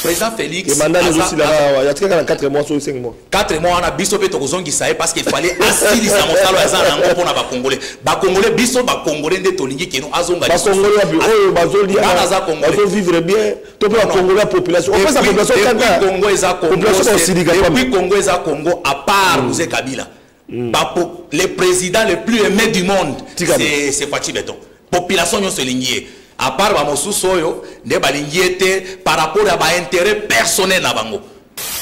président félix ebanda ezosila awa yatikaka na 4 mois soki 5 mois 4 mois wana biso mpe tokozongisa ye parce que fallait asilisa mosala aza na yango mpo na bacongolais bacongolais biso bacongolais nde tolingi keno azonga bacongolais wapi oyo bazoliana aza congolaisbazovivre bien to mpe bacongolais ya population opesa population kaka congo eza congo depuis congo eza congo à part muse kabila mm. ba, le président le plus aimé du monde c'est Fatshi Beton population nyonso elingi ye à part ba mosusu oyo nde balingi ye te par rapport ya ba intérêt personnel na bango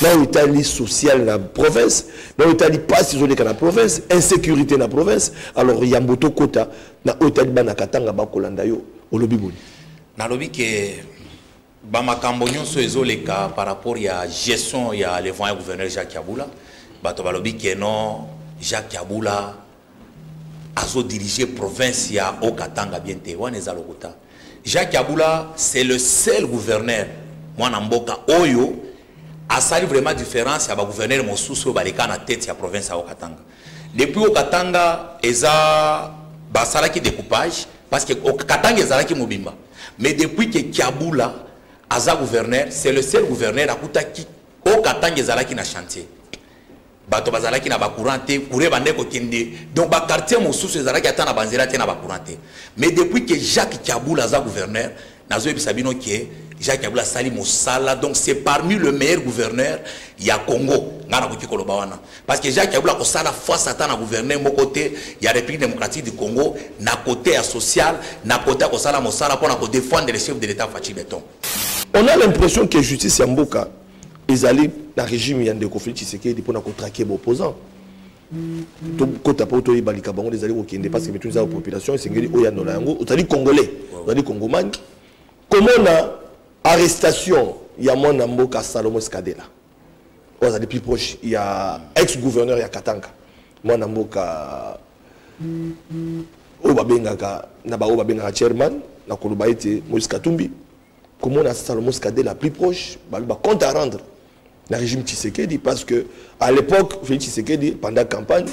na oyo etali social na province na oyo etali mpasi ezoleka na province insécurité na province alors yambo tokota na oyo etali bana katanga bakolanda yo olobi boni nalobi ke ba makambo nyonso ezoleka par rapport ya gestion ya levant ya gouverneur jacques yabula bato balobi ke non jacques yabula azodirige province ya haut katanga bien te wana eza lokuta jacques yabula c'est le seul gouverneur mwana mboka oyo asali vraiment différence ya bagouverneur mosusu oyo baleka na tete ya province ya haut katanga depuis haut katanga eza basalaki découpage parce que katanga ezalaki mobimba Mais depuis que Kiabula aza gouverneur, c'est le seul gouverneur akutaki au Katanga ezalaki na chantier. bato bazalaki na bacourant te courant bande kokende donc baquartier mosusu ezalaki ata na banzela te na bacourant te mais depuis que jacques kabula aza gouverneur nazoyebisa bino ke jacques kabula asali mosala donc c'est parmi le meilleur gouverneur ya congo ngai nakoki koloba wana Parce que Jacques Kabila kosala face ata na gouverneur moko te ya République démocratique du Congo na côté ya social, na côté ya kosala mosala mpo na ko défendre le chef de l'État Fatshi Beton. On a l'impression que justice ya mboka ezali na régime ya ndeko Félix Tshisekedi mpo na kotraquer baopposant tokota mpo toyeba likambo yango ezali kokende parce que mituni eza population esengeli oyanola yango ozali congolais ozali congomani komona arrestation ya mwana mboka Salomon Skadela oyo azali plus proche ya ex gouverneur ya katanga mwana mboka oyo babengaka na baoyo babengaka chairman na koloba ete moïse katumbi komona salomos kadela plus proche babi bacompte à rendre na régime tshisekedi parce que à l'époque félix tshisekedi pendant campagne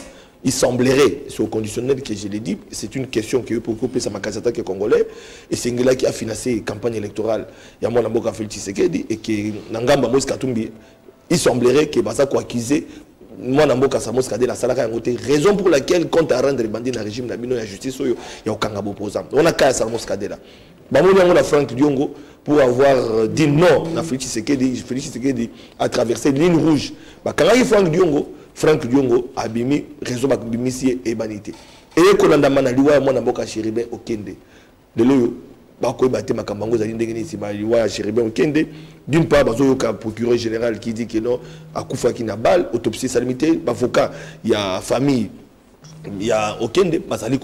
Il semblerait, c'est au conditionnel que je l'ai dit, c'est une question que pour couper sa makazata que congolais, et c'est Ngela qui a financé campagne électorale, il y a moi Namboka Félix Tshisekedi, et que Nangamba Moïse Katumbi, il semblerait que Baza quoi accuser moi Namboka Samos Kadé la salaka yango raison pour laquelle compte à rendre bandit na régime na bino ya justice oyo ya okanga opposant. On a kaya Samos Kadé là. bamoni yango na frank diongo pour avoir euh, dit non na félix tshisekedi félix tshisekedi a traversé ligne rouge bakangaki frank diongo frank diongo abimi réseau babimisi ye eyebani te eye kolandama na liwa ya mwana mboka chéribin okende lelo oyo bakoyeba te makambo yango ezali ndenge nini nsima liwa ya chéribin okende d'une part bazoyoka procureur général qui dit que non akufaki na balle autopsie esalemi te bavocat ya famille ya okende bazali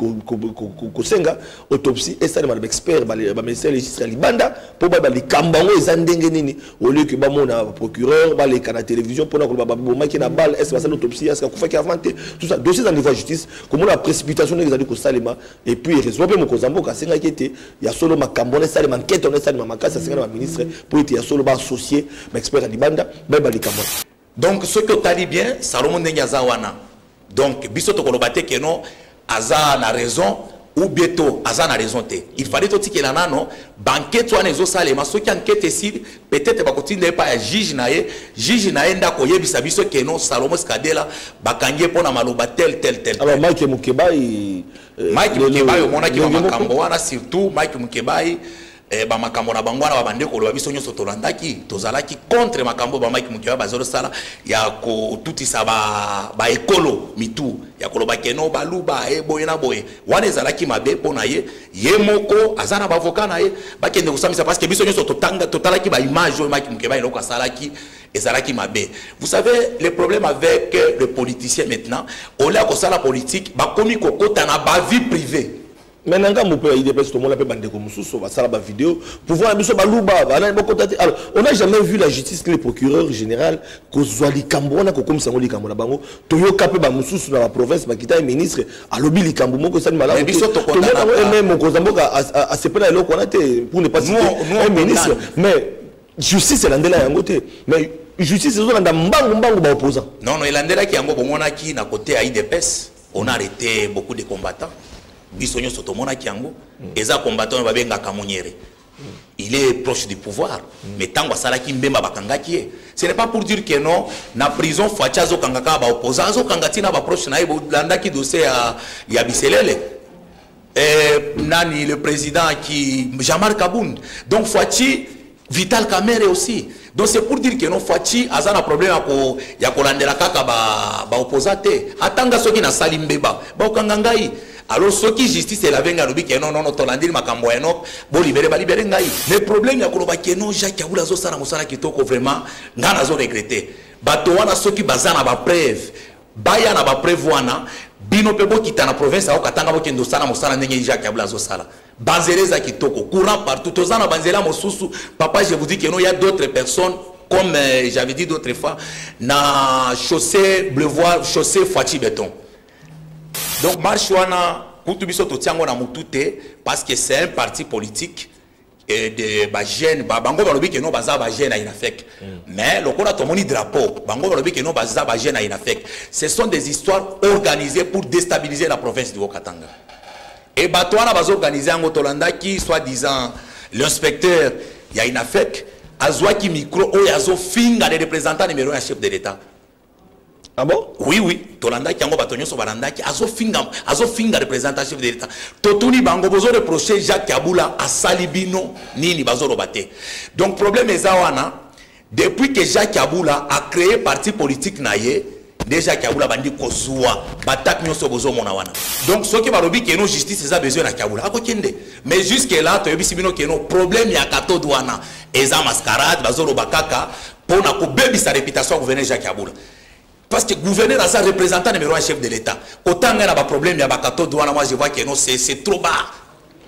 kosenga autopsie esalema na baexpert bamédecin légiste ya libanda mpo bayeba likambo yango eza ndenge nini olioke bamona procureur baleka na télévision mpona koloba babomaki na balle est basali autopsie est akufaki avant te tout ça dossier eza niveau ya justice komona précipitation ndenge ezali kosalema et puis erezoa mpe mokonzi ya mboka asengaki ete ya solo makambo wana esalema nkete wana esalema makasi asengana baministre mpo ete ya solo baassocie baexpert ya libanda bayeba likambo donc soki otali bien salomo ndenge aza wana donc biso tokoloba te keno aza na raison ou bien to aza na raison te il fallait totikela nano bankete wana ezosalema soki ankete esili peut-être bakotinda ye epai ya juge na ye juge na ye nde akoyebisa biso keno salomo skadela bakangi ye mpo na maloba tel tel tel alors mike mokebai euh, mike mokebai omonaki bamakambo wana surtout mike mokebai eh, bamakambo na bango wana babande koloba biso nyonso tolandaki tozalaki contre makambo oyo bamaki mokiwa bazosala ya kotutisa baekolo ba mitu ya koloba keno baluba e boye na boye wana ezalaki mabe mpo na ye ye moko aza na bavoka na ye bakende kosambisa parce que biso nyonso totalaki baimage oyo maki mokeba eloko asalaki ezalaki mabe vous savez le problème avec le politicien maintenant olia kosala politique bakomi kokota na bavie privée mais na ngambo mpe ya idps tomona mpe bandeko mosusu basala bavideo pouvoir na biso baluba banani bakota te alors on a jamais vu la justice que le procureur général kozwa likambo wana kokomisa yango likambo na bango toyoka mpe bamosusu na baprovince bakita ye ministre alobi likambo moko esali malamutomona yango eme mokonzi ya mboka asepela eloko wana te pour ne pas citer ministre mais justice elandela yango te mais justice ezolanda mbangu mbangu baopposant non non elandelaki yango bomonaki na kote ya idps on a arrêté beaucoup de combattants biso nyonso tomonaki yango mm. eza combattant oyo babengaka monyere mm. il est proche du pouvoir mm. mais ntango asalaki mbemba bakangaki ye ce n'est pas pour dire que non na prison faci azokanga kaka baopposant azokanga ntina baproche na ye bolandaki dossier ya, ya biselele eh, nani le président ki jamar kabund donc faci Vital Kamerhe aussi. Donc c'est pour dire que non Fatshi aza na problème ya ko ya kolandela kaka ba ba opposants te. Atanga soki na sali mbeba. Ba okanga ngai. Alors soki justice elabe ngai alobi que non non non tolandeli makambo ya Enoch bo libere ba libere ngai. Mais problème ya koloba que non Jacques Abula zo sala mosala kitoko vraiment ngai nazo regretter. Bato wana soki baza na ba preuve baya na ba preuve wana bino pe bokita na province ya Katanga bokende osala mosala ndenge Jacques Abula azo sala. Banzela eza kitoko, courant partout. Toza na banzela mosusu, papa je vous dis que non, il y a d'autres personnes comme euh, j'avais dit d'autres fois na chaussée bleu voir chaussée Fatshi béton. Donc marche wana kutu biso totiango na mutu te parce que c'est un parti politique et de ba jeune ba bango balobi que non baza ba jeune à Inafek. Mm. Mais lokola tomoni drapeau, bango balobi que non baza ba jeune à Inafek. Ce sont des histoires organisées pour déstabiliser la province du Haut-Katanga. Et bato wana bazo organiser yango tolandaki soit disant l'inspecteur ya Inafec azwaki micro oyo azofinga le représentant numéro ya chef de l'État Ah bon oui oui tolandaki yango bato nyonso balandaki azofinga azofinga représentant chef de l'État totuni bango bozo reproche Jacques Kabula asali bino nini bazoloba te donc problème eza wana Depuis que Jacques Abula a cree parti politique na ye, nde Jacques Abula bandi kozua batape nyonso bozomona wana. Donc soki balobi keno justice eza besoin na Kiabula akokende. Mais jusque là toyebisi bino keno problème ya katod wana eza mascarade bazoloba kaka mpo na kobebisa reputation ya gouverneur Jacques Abula. parce que gouverneur aza représentant numéro un chef de l'état kotanga na baproblème ya bakatode wana moi je vois que non c'est trop bas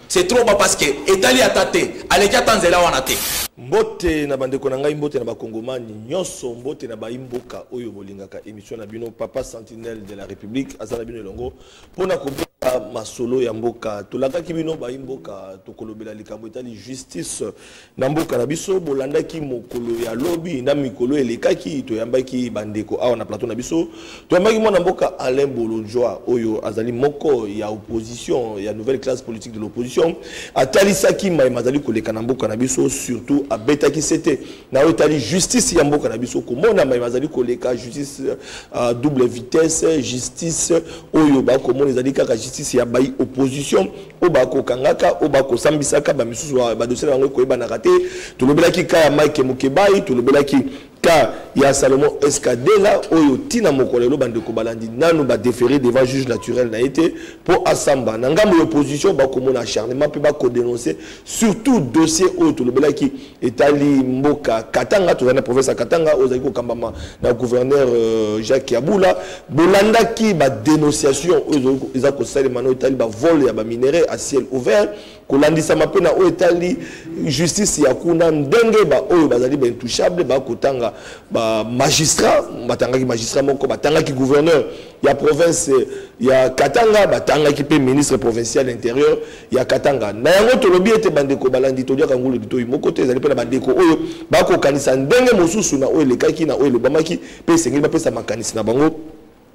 c'est trop bas parce que etali ata te aleki ata nzela wana te mbote na bandeko na ngai mbote na bakongomani nyonso mbote na baimboka oyo bolingaka émission na bino papa sentinelle de la république aza na bino elongo mpo na kobeta masolo ya mboka tolakaki bino bayi mboka tokolobela likambo etali justice na mboka na biso bolandaki mokolo ya lobi na mikolo elekaki toyambaki bandeko awa na plateau na biso toyambaki mwana mboka alain bolodjoi oyo azali moko ya opposition ya nouvelle classe politique de l'opposition atalisaki mai mazali koleka na mboka na biso surtout abetaki sete na oyo etali justice ya mboka na biso komona mai mazali koleka justice uh, double vitesse justice oyo bakomona ezali kaka justice ya bai opposition oyo bakokangaka oyo bakosambisaka bamisusu badosie na bango ekoyebanaka te tolobelaki ka ya mike mokebai tolobelaki ka ya salomon escadela oyo ntina moko lelo bandeko balandi nanu badefere devant juge naturel na ye te mpo asamba na ngambo ya opposition bakomona acharnement mpe bakodenonce surtout dossier oyo tolobelaki etali mboka katanga tozali na province ya katanga oyo ezali kokambama na gouverneur euh, jacques yabula bolandaki badénonciation oyo eza kosalema na oyo etali bavole ya baminerai à ciel ouvert kolandisama mpe na oyo etali justice ya kuna ndenge baoyo bazali baintouchable bakotanga bamagistrat batangaki magistrat moko batangaki gouverneur ya province ya katanga batangaki mpe ministre provincial interieur ya katanga na yango tolobi ete bandeko balandi toliaka ngulu litoi moko te ezali mpe na bandeko oyo bakokanisa ndenge mosusu na oyo elekaki na oyo elobamaki mpe esengeli bapesa makanisi na bango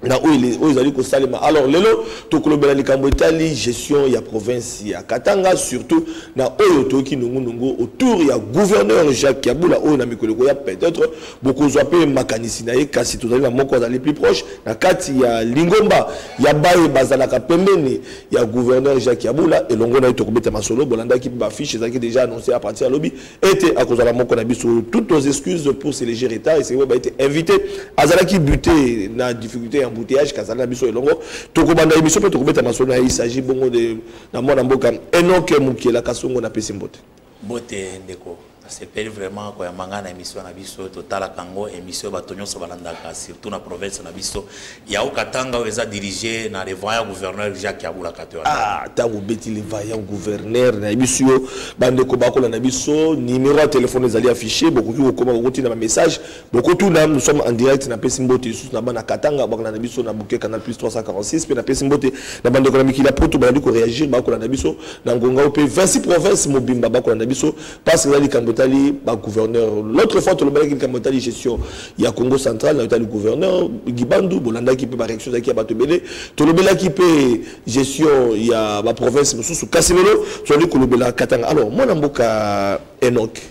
na oyo ezali kosalema alors lelo tokolobela likambo etali gestion ya province ya katanga surtout na oyo toyoki nungunungu autour ya gouverneur jacques yabula oyo na mikolo ekoya peut-être bokozwa mpe makanisi na ye kasi tozali na moko azali plus proche na kati ya lingomba ya baye bazalaka pembeni ya gouverneur jacques yabula elongo na ye tokobeta masolo bolandaki mpe bafiche ezalaki déjà annonce à partir ya lobi ete akozala moko na biso toutes nos excuses pour ce léger retard esengeli koyeba ete invité azalaki buté na difficulté ya embouteillage kazali na biso elongo tokobanda émission mpe tokobeta masolo na ye il s'agit bongo de na mwana mboka enoke mokiela kasongo na pesi mbote Mbote ndeko, nasepeli vraiment koyamba ngai na emission na biso, totalaka yango emission bato nyonso balandaka, surtout na province na biso ya Haut-Katanga oyo eza dirige na le vaillant gouverneur Jacques Yabula Katoya. Ah, ntango obeti le vaillant gouverneur na biso yo bandeko bakolanda biso, numero ya telefone ezali affiche, bokoki kokoma kokotinda bamessage bokotuna nous sommes en direct napesi mbote lisusu na bana katanga bakolanda biso na buke canal plus 346 mpe napesi mbote na bandeko na mikili ya poto balandi koreagir bakolanda biso na ngonga oyo mpe 26 province mobimba bakolanda biso parce eza likambo etali bagouverneur l'autre fois tolobalaki likambo etali gestion ya congo central na etali gouverneur gibandu bolandaki mpe bareaction ezalaki ya bato ebele tolobelaki mpe gestion ya baprovince mosusu kasi lelo tozali kolobela katanga alors mwana mboka enoke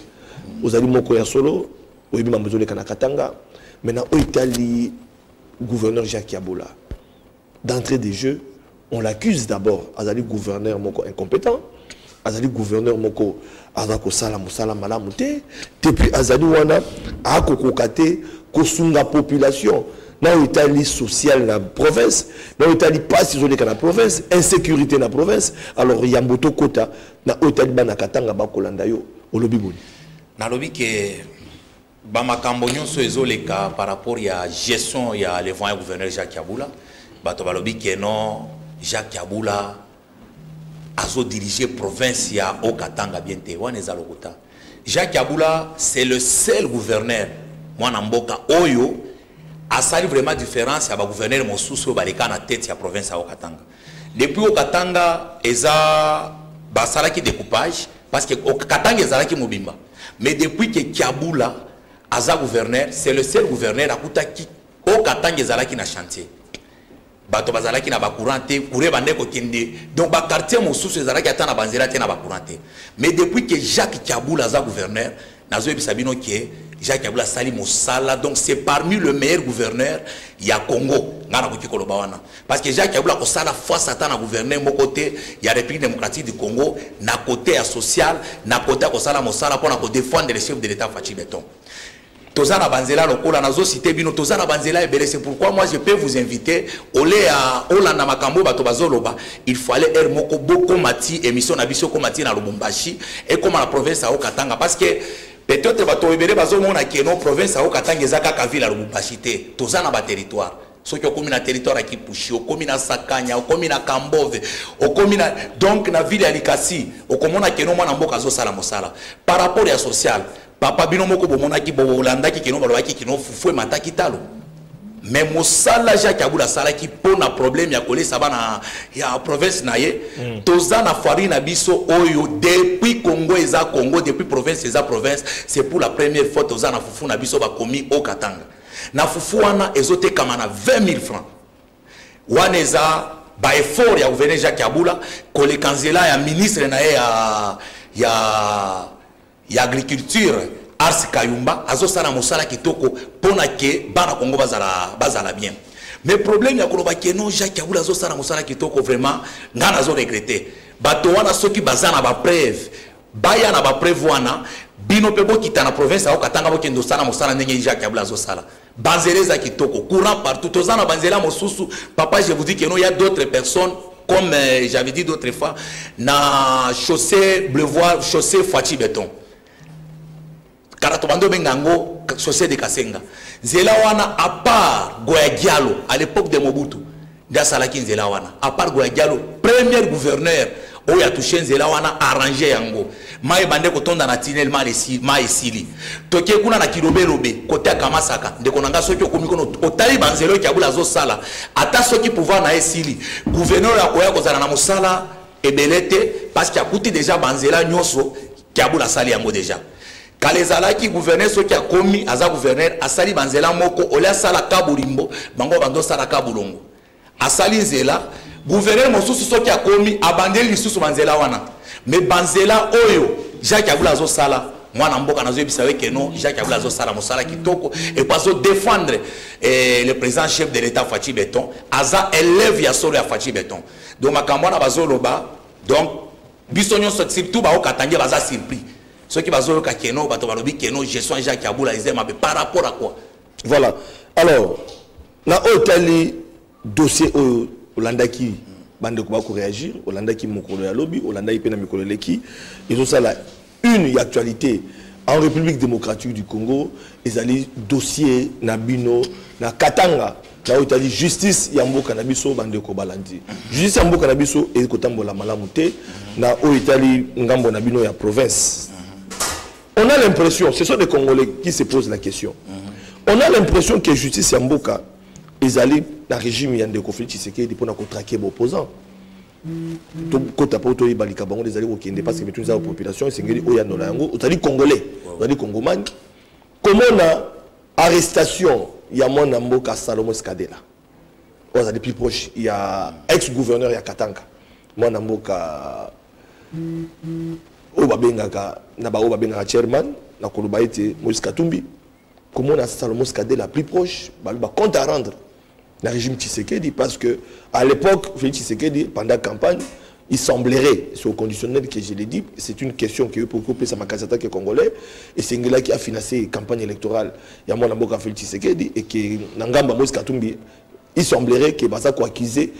ozali moko ya solo oyebi mambo ezoleka na katanga mais na oyo etali gouverneur jacques yabola d'entrée de jeu on l'accuse d'abord azali gouverneur moko incompétent azali gouverneur moko aza kosala mosala malamu te te puis azali wana akokoka te kosunga population na oyo etali sociale na province na oyo etali mpasi ezoleka na province insécurité na province alors yambo tokota na oyo etali bana katanga bakolanda yo olobi boni nalobi ke bamakambo nyonso ezoleka par rapport ya gestion ya le voyant gouverneur jacques kabula bato balobi ke non jacques kabula azodirige province ya haut katanga bien te wana eza lokuta jacques kabula c'est le seul gouverneur mwana mboka oyo asali vraiment différence ya bagouverneur mosusu oyo baleka na tete ya province ya haut katanga Depuis au Katanga eza basalaki découpage parce que au Katanga ezalaki mobimba mais depuis que Kiabula aza gouverneur c'est le seul gouverneur akutaki au Katanga ezalaki na chantier bato bazalaki na bacourant te courant ebanda kokende donc baquartier mosusu ezalaki ata na banzela te na bacourant te mais depuis que jacques kabul aza gouverneur nazoyebisa bino ke jacques kabila asali mosala donc c'est parmi le meilleur gouverneur ya congo ngai nakoki koloba wana parce que jacques kabila akosala face ata na gouverneur moko te ya république démocratique du congo na côté ya social na côté ya kosala mosala mpo na kodefendre le chef de l'état faci beton toza na banzela lokola nazosite bino toza na banzela ebele c'est pourquoi moi je peux vous inviter ole ya olanda makambo oyo bato bazoloba Il fallait heure moko bokoma ti emission na biso ekoma ti na Lubumbashi ekoma na province ya Haut-Katanga parce que peut-être bato ebele bazomona ke no province ya Haut-Katanga eza kaka ville ya Lubumbashi te toza na baterritoire soki okomi na territoire ya Kipushi okomi na Sakanya okomi na Kambove okomi na donc na ville ya Likasi okomona ke no mwana mboka azosala mosala par rapport ya social Papa bino moko bomonaki bolandaki kino balobaki kino fufu emataki talo mais mosala jacques abula asalaki mpo na problème ya kolesa bana ya province na ye mm. toza na fari na biso oyo depuis congo eza congo depuis province eza province c'est pour la première fois toza na fufu na biso bakomi o katanga na fufu wana ezotekama na 20 000 francs wana eza baeffort ya gouverneur jacques abula koleka nzela ya ministre na ye ya, ya ya agriculture Ars Kayumba azosala mosala kitoko pona ke bana Kongo bazala bazala bien mais problème ya koloba ke non Jacques Kabila azosala mosala kitoko vraiment ngai nazo regretter bato wana soki baza na bapreuve baya na bapreuve wana bino mpe bokita na province ya okatanga bokende osala mosala ndenge Jacques Kabila azosala Banzela eza kitoko, courant partout. Toza na banzela mosusu, papa je vous dis que non, il y a d'autres personnes comme euh, j'avais dit d'autres fois na chaussée bleu voir chaussée Fatshi béton. Kala to bando benga ngo chaussée de Kasenga. Zela wana à part Goya Diallo à l'époque de Mobutu. nde asalaki nzela wana apart goya dialo premier gouverneur oyo atushe nzela wana arrange yango mai ebande kotonda na tinel mai esili toke kuna na kilobelobe kote akamasaka ndeko na ngai soki okomi kuna otali banzela oyo kiabula azosala ata soki pouvoir na ye esili gouverneur oyo akoya kozala na mosala ebele te parce que akuti deja banzela nyonso Kiabula asali yango deja. Kala ezalaki gouverneur soki akomi aza gouverneur asali banzela moko ole asala kaburimbo bango bando sala kabulongo. Asali nzela gouverneur mosusu soki akomi abandeli lisusu banzela wana. Mais banzela oyo Jacques Abula azo sala mwana mboka nazoyebisa yo ke non jacques abula azosala mosala kitoko epo azodefendre eh, le président chef de l'état faci beton aza élève ya solo ya faci beton donc makambo wana bazoloba donc biso nyonso surtout bao katangais baza surpris soki bazoyoka keno bato balobi keno gestion ya jacques abula eza mabe par rapport à quoi voilà alors na oyo etali dossier oyo olandaki bandeko bakoreagir olandaki mokolo ya lobi olandaki mpe na mikolo eleki ezosala Une ya actualite en République démocratique du Congo ezali dossier na bino na Katanga na oyo etali justice ya mboka na biso bandeko balandi justice ya mboka na biso eye kotambola malamu te na oyo etali ngambo na bino ya province on a l'impression ce sont des congolais qui se posent la question on a l'impression que justice ya mboka ezali na régime ya ndeko félix tshisekedi mpo na kotrake baopposant tokota mpo toyeba likambo yango ezali kokende parce que mituni eza ya population esengeli oyanola yango ozali congolais ozali congomani komona arrestation ya mwana mboka salomo escadela oyo azali plus proche ya ex gouverneur ya katanga mwana mboka oyo babengaka na baoyo babengaka chairman na koloba ete moïse katumbi komona salomo escadela plus proche baloba compte à rendre na régime Tshisekedi parce que à l'époque Félix Tshisekedi pendant campagne il semblerait c'est au conditionnel que je l'ai dit c'est une question que pourquoi pesa makasata que congolais et c'est ngela qui a financé campagne électorale ya mwana mboka Félix Tshisekedi et que na ngamba Moïse Katumbi il semblerait que baza ko accuser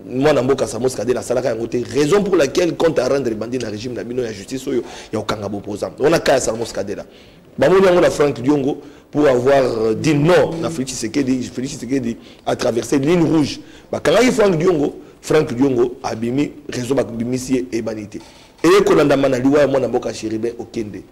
mwana mboka Samos Kadel asalaka yango te raison pour laquelle compte à rendre bandi na régime na bino ya justice oyo ya kokanga bopoza wana kaya Samos Kadela bamoni yango na frank diongo pour avoir euh, dit non na félix tshisekedi félix tshisekedi a traversé ligne rouge bakangaki frank diongo frank diongo abimi réseau babimisi ye eyebani te eye kolandama na liwa ya mwana mboka chéribin okende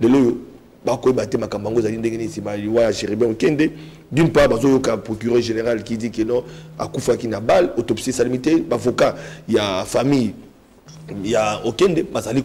lelo oyo bakoyeba te makambo yango ezali ndenge nini nsima liwa ya chéribin okende d'une part bazoyoka procureur général qui dit que non akufaki na balle autopsie esalemi te bavocat ya famille ya okende bazali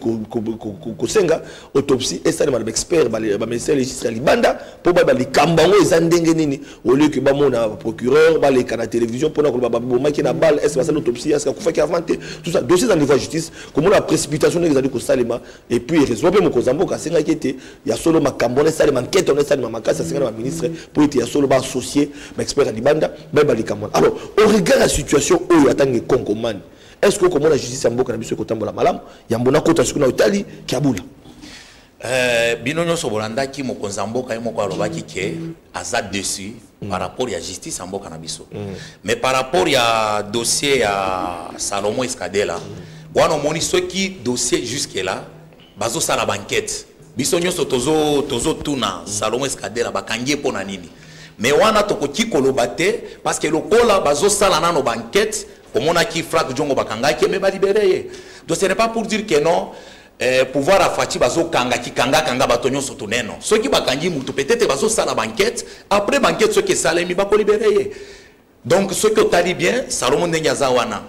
kosenga autopsie esalema na baexpert bamédecin légiste ya libanda mpo bayeba likambo yango eza ndenge nini olioke bamona procureur baleka na télévision mpona koloba babomaki na balle est basali autopsie est akufaki avant te tout ça dossier eza niveau ya justice komona précipitation ndenge ezali kosalema et puis erezoa mpe mokonzi ya mboka asengaki ete ya solo makambo wana esalema nkete wana esalema makasi asenga na baministre mpo ete ya solo baassocie baexpert ya libanda bayeba likambo wana alors au regard ya situation oyo atangi konkongomani est ce que okomona justice ya mboka na biso ekotambola malamu yambo nakota soki na otali kiabula Euh, bino nyonso bolandaki mokonzi ya mboka ye moko alobaki ke aza dessus mm. par rapport ya justice ya mboka na biso mm. mais par rapport ya dossier ya salomon escadela mm. wana omoni soki dossier jusque là bazosala bankete biso nyonso tozotuna tozo, tozo mm. salomon escadela bakangi ye mpo na nini mais wana tokoki koloba te parce que lokola bazosala nano bankete omonaki frank jongo bakangaki me balibere ye donc ce n'est pas pour dire que non eh, pouvoir ya faci bazokanga kikangakanga bato nyonso tuneno soki bakangi motu peut-être bazosala bankete après bankete soki esalemi bakolibere ye donc soki otali bien salomo ndenge aza wana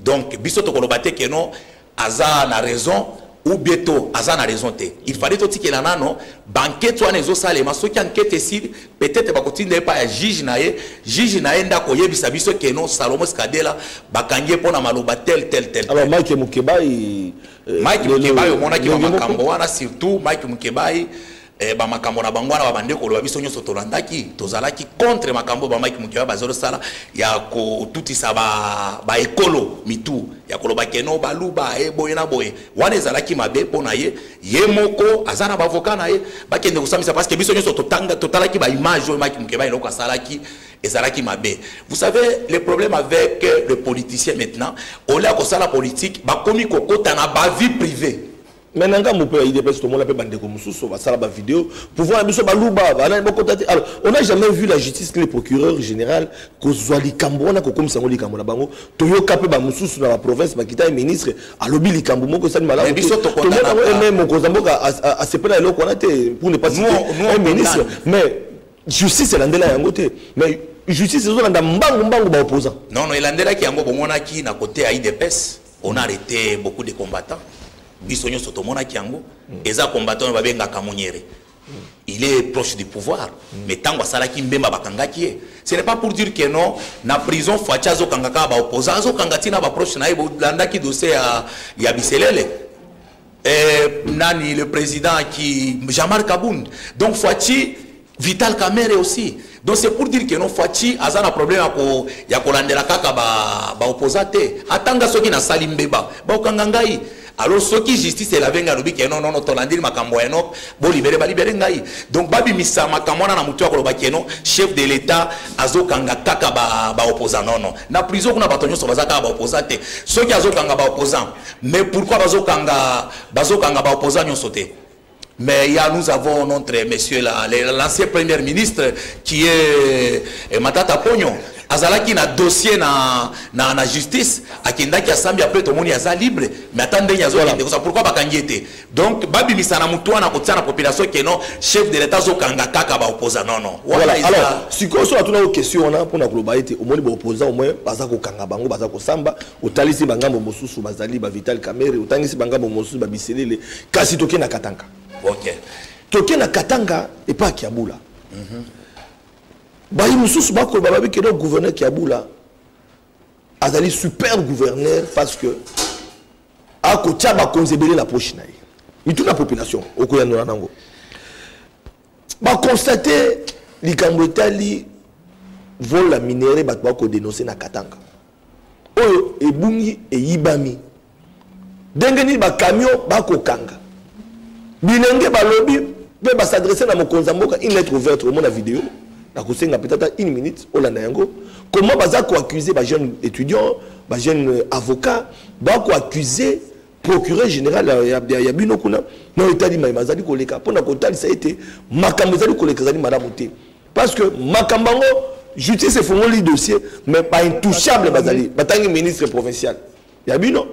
donc biso tokoloba te keno aza na raison ou bien to aza na raison te il fallait totikela nano bankete wana ezosalema soki ankete esili peut-être bakotinda ye epai ya juge na ye juge na ye nde akoyebisa biso keno salomo sikadela bakangi ye mpo na maloba tel tel tel alors mike mokebai euh, mike mokebai omonaki makambo wana surtout mike mokebai eh, bamakambo na bango wana babande koloba biso nyonso tolandaki tozalaki contre makambo oyo bamaki mokiwa bazosala ya kotutisa baekolo ba mitu ya koloba keno baluba e boye na boye wana ezalaki mabe mpo na ye ye moko aza na bavoka na ye bakende kosambisa parce que biso nyonso totalaki baimage oyo maki mokeba eloko asalaki ezalaki mabe vous savez le problème avec le politicien maintenant olia kosala politique bakomi kokota na bavie privée mais na ngambo mpe ya idps tomona mpe bandeko mosusu basala bavideo pouvoir na biso baluba banani bakota te alors on a jamais vu la justice que le procureur général kozwa likambo wana kokomisa yango likambo na bango toyoka mpe bamosusu na baprovince bakita ye ministre alobi likambo moko esali malamutomona yango eme mokonzi ya mboka asepela eloko wana te pour ne pas citer ministre mais justice elandela yango te mais justice ezolanda mbangu mbangu baopposant non non elandelaki yango bomonaki na kote ya idps on a arrêté beaucoup de combattants biso nyonso tomonaki yango mm. eza combattant oyo babengaka monyere mm. il est proche du pouvoir mm. mais ntango asalaki mbemba bakangaki ye ce n'est pas pour dire que non na prison faci azokanga kaka baopposant azokanga ntina baproche na ye bolandaki dossier ya, ya biselele eh, nani le président ki jamar kabund donc faci Vital Kamerhe aussi. Donc c'est pour dire que non Fatshi aza na problème ya ko ya kolandela kaka ba ba opposants te. Atanga soki na sali mbeba. Ba okanga ngai. Alors soki justice elave ngai alobi ke non non non tolandeli makambo ya Enoch bo libere ba libere ngai. Donc babi misa makambo wana na mutu ya koloba ke non chef de l'État azokanga kaka ba ba opposants non non. Na prison kuna bato nyonso baza kaka ba opposants te. Soki azokanga ba opposants mais pourquoi bazokanga bazokanga ba opposants nyonso te? Mais il y a, nous avons notre monsieur là, l'ancien premier ministre qui est eh, Matata Pognon. azalaki na dossier na, na, na justice akendaki asambi apres tomoni aza libre mais ata ndenge azokende kosa pourkui bakangi ye te donc babimisa na motu wana kotia na population keno chef de l'état azokanga kaka baopposa nono sikoyo so atunaki question wana mpona koloba ete omoni baopposa omoi baza kokanga bango baza kosamba otalisi bangambo mosusu bazali ba vital kamere otangisi bangambo mosusu ba biselele kasi toke na katanga okay. toke na katanga epa kiabula mm -hmm. bayi mosusu bakoloba babi ke donc gouverneur kiabula azali super gouverneur parce que akotya bakonzi ebele na poche na ye mituna population okoyanola nango baconstate likambo etali vol ya minere bato bakodenonse na katanga oyo ebungi eyibami ndenge nini bakamio bakokanga bilenge balobi mpe basadresse na mokonzi ya mboka une lettre ouverte omona video nakosenga peut ata une minute olanda yango comment baza koaccuse bajeune étudiant bajeune euh, avocat bakoaccuse procureur général ya bino kuna na oyo etali mai mazali koleka mpo na kotalisa ete makambo ezali koleka ezali malamu te parce que makambo yango justice efongoli dossier mais baintouchable bazali batangi ministre provincial ya bino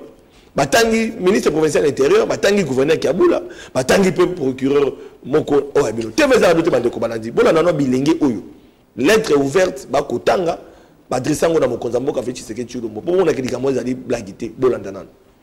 batangi ministre provincial intérieur batangi gouverneur kiabula batangi mpe procureur moko oyo ya bino tv ezala bino te bandeko balandi bolanda no bilenge oyo lettre ouverte bakotanga baadresse yango na mokonzi ya mboka fe tshiseke tshilombo mpo monaki likambo ezali blagi te bolanda nano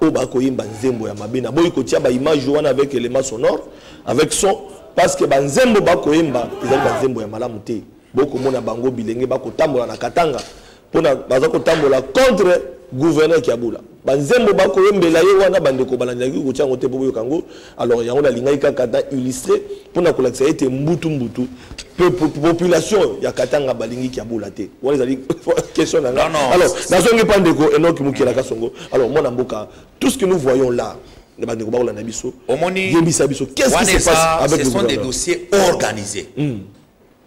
oyo bakoyemba nzembo ya mabe naboyi kotia baimage wana avec élément sonore avec son parce que banzembo bakoyemba ezali banzembo ya malamu te bokomona bango bilenge bakotambola na katanga mpona baza kotambola contre gouverneur kiabula banzembo bakoyembela ye wana bandeko balandaki kotia yango te mpo boyoka yango alors yango nalingaki kaka na illustre mpo na kolakisa ete mbutu mbutu population ya katanga balingi kiabula te wana ezali question na nga alors nazongi mpa ndeko enoki mokelaka songo alors mwana mboka tout ce que nous voyons là na bandeko bakolanda biso omoni yebisa biso qu'est-ce qui se passe avec ce sont des dossiers organisés mm.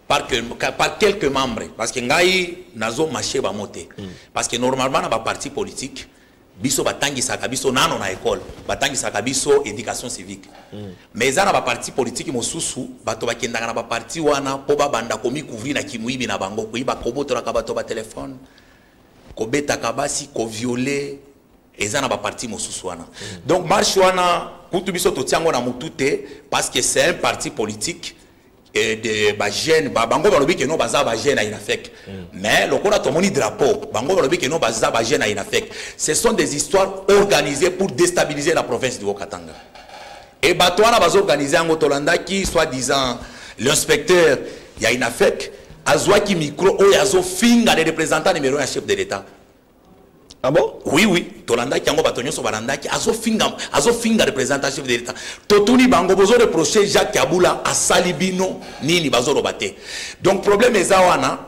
par, que, par quelques membres parce que ngai nazo marché bango te mm. parce que normalement na baparti politique biso batangisaka biso nano na ekole batangisaka biso éducation civique mm. mais eza na baparti politiki mosusu bato bakendaka na baparti wana mpo babanda komikouvrir na kimoyibi na bango koyiba kobotolaka bato batelefone kobetaka basi koviole eza na baparti mosusu wana mm. donc marche wana kutu biso totiango na motu te parce que c'est un parti politique et de ba jeunes ba bango balobi que non baza ba jeunes à Inafec mm. mais lokola tomoni drapeau bango balobi que non baza ba jeunes à Inafec ce sont des histoires organisées pour déstabiliser la province du Haut-Katanga et bato wana bazo organiser yango tolandaki soit disant l'inspecteur ya Inafec azwaki micro oyo azofinga le représentant numéro ya chef de l'État Ah bon? Oui, oui. tolandaki yango bato nyonso balandaki azofinga azofinga representative de l'etat totuni bango bozo reproche jacques abula asali bino nini bazoloba te donc problème eza wana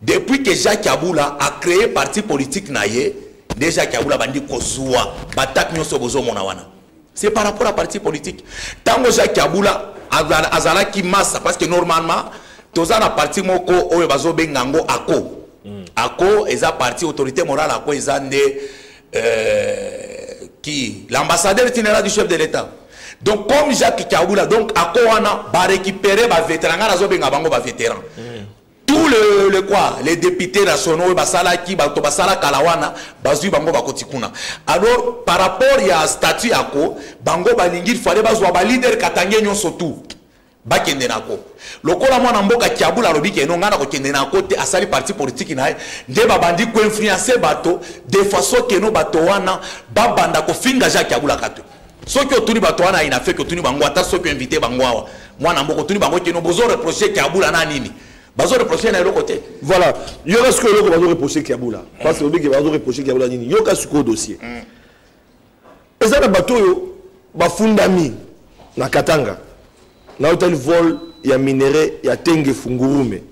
depuis que jacques abula a créé parti politique na ye nde jacques abula bandi kozwa batake nyonso bozomona wana c'est par rapport à parti politique tango Jacques Abula azalaki massa parce que normalement toza na parti moko oyo bazobenga yango ako mm. ako eza parti autorité morale ako eza nde euh, qui l'ambassadeur itinéraire du chef de l'état donc comme jacques kabula donc ako wana barécupere bavétéran ngai nazobenga bango bavétéran mm. Tout le le quoi les députés nationaux oyo basalaki bato basala kala wana bazwi bango bakoti kuna alors par rapport ya statut yako bango balingi fale bazwa balider katange nyonso tout bakende nako lokola mwana mboka kiabula alobi keno ngai nakokende nako te asali parti politiki na ye nde babandi koinfluence bato de façon keno bato wana babanda kofinga jacques kiabula kato soki otuni bato wana aina feki otuni bango ata soki oinvite bango awa mwana mboka otuni bango keno bozo reproche kiabula na nini bazo reproche na eloko te voilà yoka sikoyo eloko bazo reproche kiabula parce que obike bazo reproche kiabula nini yoka sikoyo dossier mm. eza na bato oyo bafundami na katanga na hôtel vol ya minerai ya tenge fungurume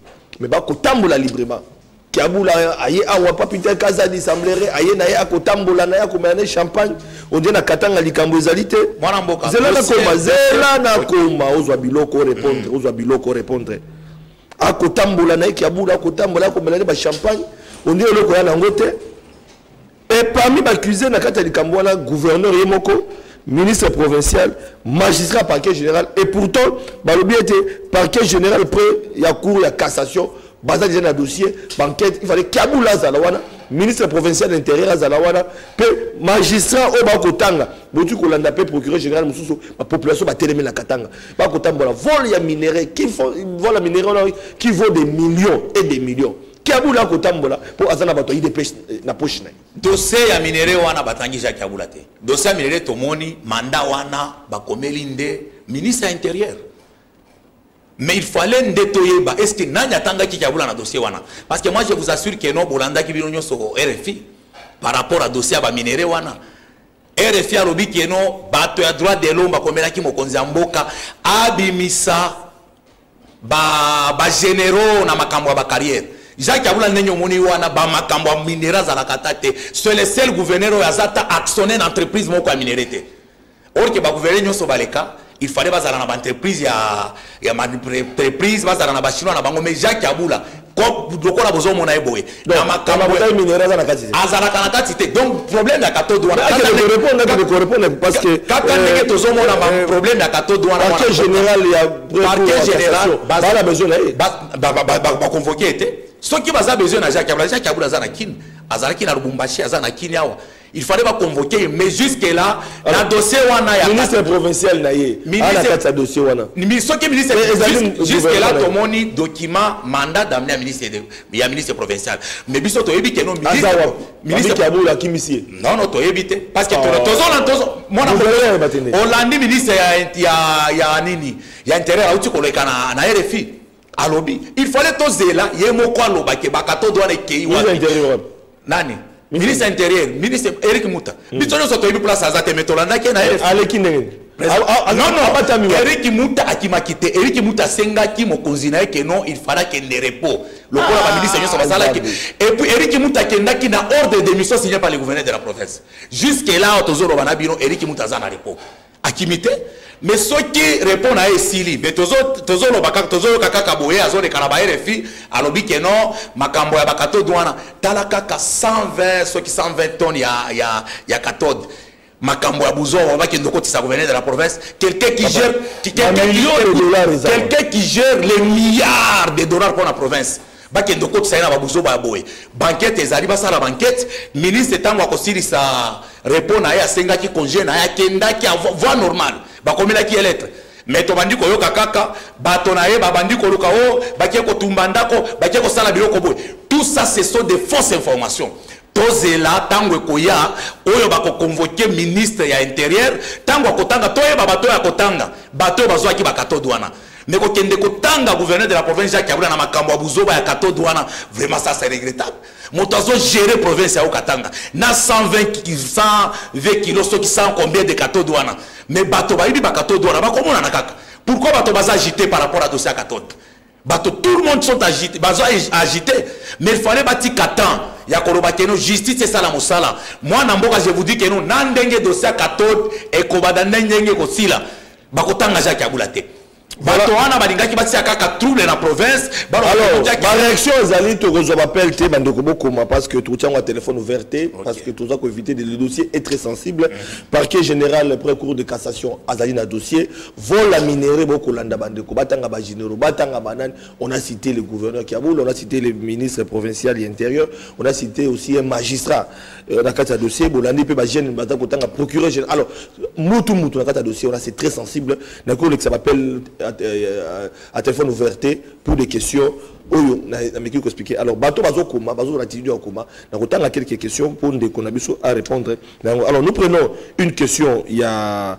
mais bakotambola librement Kiabula aye awa papita kaza di semblere aye na ye akotambola na ye akomela ne champagne ondie na katanga likambo ezali te zela nakoma zela nakoma ozwa biloko orepondre mm. ozwa biloko orepondre akotambola na ye kiabula akotambola akomela ne bachampagne ondie eloko ya nango te Et parmi accusés na kati ya likambo wana gouverneur ye moko ministre provincial magistrat parquet général et pourtant balobi ete parquet général près ya cour ya cassation baza déjà na dossier banquête il fallait kabula azala wana ministre provincial intérieur azala wana mpe magistrat oyo bakotanga boki kolanda mpe procureur général mosusu bapopulation batelemi na katanga bakotambola vol ya minerai vol ya minerai qui vaut des millions et des millions kiabula akotambola mpo aza na bato ya idps eh, na poche na ye dosie ya minere wana batangi jacques kiabula te dosie ya minere tomoni manda wana bakomeli nde ministre ya intérieur mais il fallait nde toyeba est ce que nani atangaki kiabula na dossier wana parce que moi je vous assure que non bolandaki bino nyonso rfi par rapport à dossier ya baminere wana rfi alobi keno bato ya droit de l'homme bakomelaki mokonzi ya mboka abimisa ba ba généraux na makambo ya ba carrière jacques abula ndenge omoni wana ba makambo ya minere azalaka ata te c'est le seul gouverneur oyo aza ata actionnaire na entreprise moko ya minere te or ke bagouverneur nyonso baleka il fallait bazala na baentreprise ya, ya maentreprise bazala na bachinois na bango mais jacques abula lokola bozomona ye boye na makambo azalaka na kati te donc problème ya katode wanakaka ndenge tozomona problème ya katode wanaparquet général baconvoke ye te soki baza besoin na jacques abula jacques abula aza na kine azalaki na lubumbashi aza na kini awa il fallait ba convoquer ye mais jusque là na dossier wana ya ministre provincial na ye ana kati ya dossier wana soki ministre jusque là tomoni document mandat d'amener ya ministre ya ministre provincial mais biso toyebi ke no ministre ministre ya bolo akimisi ye non non toyebi te parce que ah. tozona tozo mwana olandi ministre ya ya ya nini ya intérieur auti koleka na na RFI alobi il fallait tozela ye moko aloba ke bakatodo wana ekei wapi nani ministre intérieur ministre eric muta hmm. biso nyonso toyebi place aza te me tolandaki ye na eh, aleki ndenge eriki muta akimaki te eriki muta asengaki mokonzi na ye ke non il fala kende repos lokola ah, baministre nyonso basalaki epuis eriki muta akendaki na ordre de mission signé par le gouverneur de la province jusque là tozoloba na bino eriki muta aza na repos akimi te mais soki repond na ye esili mais tozoloba kaka tozoyoka kaka boye azoleka na barefi alobi ke non makambo ya bakatode wana tala kaka 120 soki 120 tonne ya, ya, ya katode makambo ya buzoba bakende okotisa gouverneur de la province quelqu'un qui gère quelqu'un qui gère les milliards de dollars mpo na province bakende okotisa ye na babuzoba ya boye bankete ezali basala bankete ministre ntango akosilisa repo na ye asengaki conge na ye akendaki voi normal bakomelaki ye lettre me tobandi koyoka kaka bato na ye babandi koluka o oh, bakie kotumba ndako bakie kosala biloko boye tout ça ce sont des fausses informations tozela ntango ekoya oyo bakokonvoke ministre ya interieur ntango akotanga toyeba bato oyo akotanga bato oyo bazwaki bakatode wana Mais kokende kotanga gouverneur de la province Jacques Kabila na makambo ya buzoba ya katode wana vraiment ça c'est regrettable moto azo gérer province ya Katanga na 120 120 kilos soki 100 combien de katode wana mais bato bayebi ba katode wana bakomonana kaka pourquoi bato baza agité par rapport à dossier ya katode bato tout le monde sont agité bazo agité mais il fallait batika temps ya koloba keno justice esala mosala mwana mboka je vous dis keno na ndenge dossier ya katode ekobada ndenge ekosila bakotanga jacques yabula te bato wana balingaki batia kaka trouble na province bareaction ezali tokozwa bapele te bandeko bokoma parce que totia yango ya téléphone ouvert te parce que toza koéviter de le dossier est très sensible mm-hmm. parquet général près cour de cassation azali na dossier vola minere bokolanda bandeko batanga bagénéraux batanga banani on a cité le gouverneur kiaboul on a cité le ministre provincial ya intérieur on a cité aussi un magistrat Euh, na kati ya dossier bolandi mpe bajeune baza kotanga procureur général alors mutu mutu na kati ya dossier wana c'est très sensible nakoki kolekisa bapele à euh, euh, téléphone ouverte pour des questions oyo nameki koexplike alors bato bazokoma bazozala tidio ya koma na kotanga quelques questions mpo ndeko na biso a répondre na yango alors nous prenons une question ya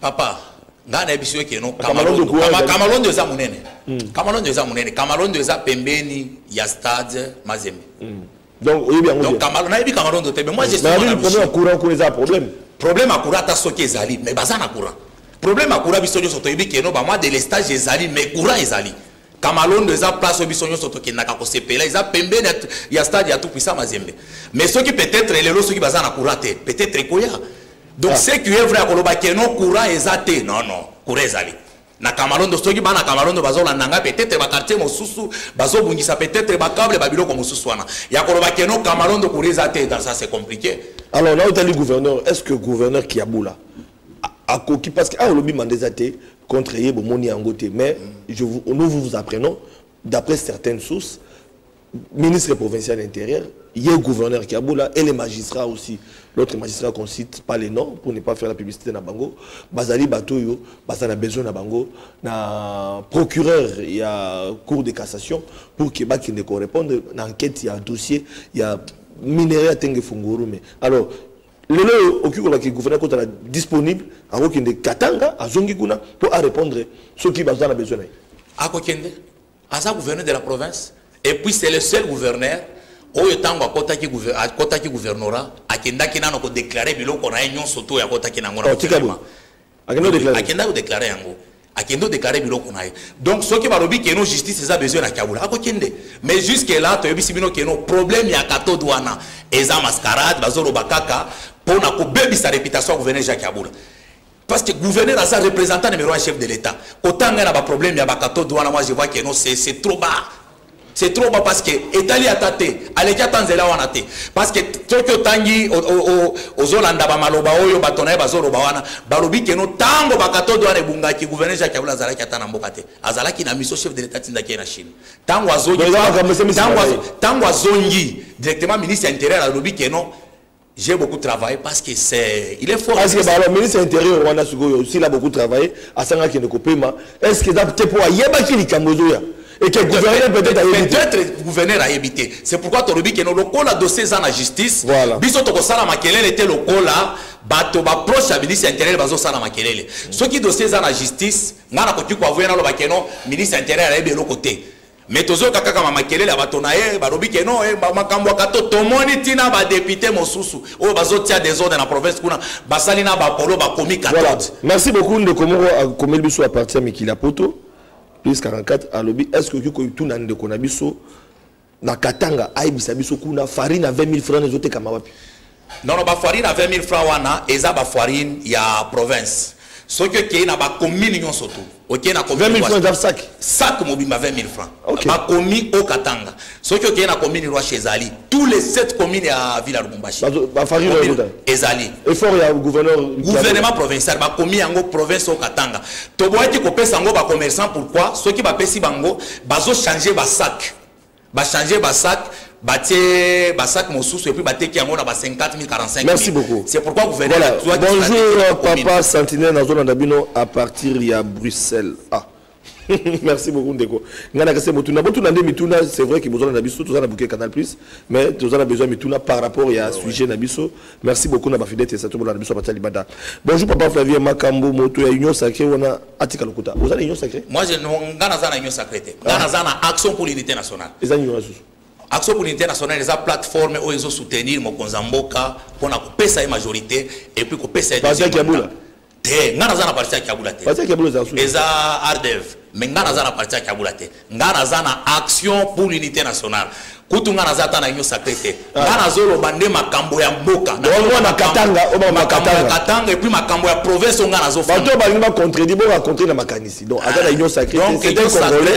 papa ngai nayebisi yo keno kamalondo eza monene hmm. kamalondo eza monene kamalondo eza pembeni ya stade mazembe hmm. donc oyebi yango donc kamalo nayebi kamalondo te mais moi je suis na problème ya courant kuna eza problème problème ya courant ata soki ezali mais baza na courant problème ya courant biso nyonso toyebi keno ba mois de lestage ezali mais courant ezali Kamalondo eza place oyo biso nyonso tokendaka kosepela eza pembeni ya stade ya Tupuisa Mazembe. Mais soki peut-être lelo soki baza na courant te, peut-être ekoya. Donc ah. c'est que vrai akoloba que non courant eza te. Non non, courant ezali. Na Kamalondo soki bana Kamalondo bazolanda ngai peut-être ba quartier mosusu bazobungisa peut-être ba câble ba biloko mosusu wana. Ya koloba que non Kamalondo courant eza te, dans ça c'est compliqué. Alors là où t'as le gouverneur, est-ce que gouverneur Kiabula akoki parce que aolobi ah, manda eza te contre ye bomoni yango te mais je vous, nous vous apprenons d'après certaines sources ministre provincial de l'intérieur ye gouverneur kiabula et les magistrats aussi l'autre magistrat qu'on cite pas les noms pour ne pas faire la publicité na bango bazali bato oyo baza na besoin na bango na procureur ya cour de cassation pour ke bakende korépondre na enquête ya dossier ya minerai ya tenge fungurume alors lelo oyo okoki koloba ke gouverneur kotala disponible akokende katanga azongi kuna mpo arépondre soki baza na besoin na ye akokende aza gouverneur de la province et puis c'est le seul gouverneur oyo ntango akotaki akotaki gouvernorat akendaki nano kodeklare biloko na ye nyonso to oyo akotaki nango na oh, gouvernement akenda kodeklare yango akende odeklare biloko na ye donc soki balobi keno justice eza besoin na kabula akokende mais jusque là toyebisi bino keno problème ya katode wana eza mascarade bazoloba kaka mpo na kobebisa réputation ya gouverneur jacques kabula parce que gouverneur aza représentant numéro ya chef de l'état kotanga na baproblème ya bakatode wana moi je vois keno c'est trop bas c'est trop bas parce que etali ata te aleki ata nzela wana te parce que soki otangi ozolanda bamaloba oyo bato na ye bazoloba wana balobi keno ntango bakatode wana ebungaki gouverneur jacques kabila azalaki ata na mboka te azalaki na miso chef de l'état atindaki ye na chine ntango azongi directement ministre ya intérieur alobi keno J'ai beaucoup travaillé parce que c'est il est fort. Parce que bah, alors ministre intérieur Rwanda Sugoyo aussi là beaucoup travaillé à sanga qui ne kopema. Est-ce que d'apte pour ayeba qui les kambozoya et que gouverneur peut-être a évité. Peut-être gouverneur a évité. C'est pourquoi Torobi qui est lokola dossier dans la justice. Voilà. Biso toko sala makelele était lokola bato baproche ya ministre ya interieur bazosala makelele soki dossier eza na justice ngai nakoki koavoye naloba keno ministre ya interieur ayebi eloko te Mais tozoyoka kaka ma makelele ya bato na ye balobi ke no eh, makambo aka to tomoni ntina badepute mosusu oyo bazotia desordre na province kuna basali na bapolo bakomi voilà. merci beaucoup ndeko moko akomeli biso ya parti ya mikili ya poto plus 44 alobi est ce que okoki kotuna ndeko na biso na katanga ayebisa biso kuna farine ya 20 000 franc ezotekama wapi Non, non, ba farine à 20 000 francs wana eza ba farine ya province. soki okei na bakomini nyonso tu okei na sac mobimba 20 000 francs okay. bakomi o katanga soki okei na komini rwashi ezali tous les 7 communes ya ville ya lubumbashi ezali gouvernement provincial bakomi yango province o katanga toboyaki kopesa yango bacommerçant pourquoi soki bapesi bango bazochange basac ba changer ba sac batie ba sac mosusu et puis bateki yango na ba 50 000 45 merci beaucoup c'est pourquoi gouverneur voilà. Toi, bonjour papa sentinelle nazolanda bino à partir ya bruxelles ah merci beaucoup ndeko ngai nakese motuna botuna nde mituna c'est vrai ke bozala na biso toza na buke canal plus mais toza na besoin mituna par rapport ya sujet na biso Merci beaucoup na ba fidèles tesato bolanda biso batia libanda. Bonjour papa Flavien Makambo moto ya Union Sacrée wana atika lokuta. Oza na Union Sacrée? Moi je nga naza na Union Sacrée te. Nga ah. naza na Action pour l'unité nationale. Eza nini wasu? Action pour l'unité nationale eza plateforme oyo ezo soutenir mokonza mboka pona kopesa ye majorité et puis kopesa ye Bazaki ya bula. te nga naza na parti ya kiabula te parti ya kiabula eza sous eza ardev mais nga naza na parti ya kiabula te nga naza na action pour l'unité nationale kutu nga naza ata na union sacré te ah. nga nazoloba nde makambo ya mboka na katanga makambo ya katanga epuis makambo ya province oyo nga nazobato balingi bacontredi bo bacontre na makanisi donc aza na ah. union sacré donc union sacré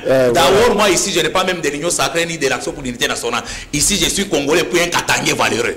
euh, d'ailleurs moi ici je n'ai pas même de l'union sacré ni de l'action pour l'unité nationale ici je suis congolais puis un katangais valeureux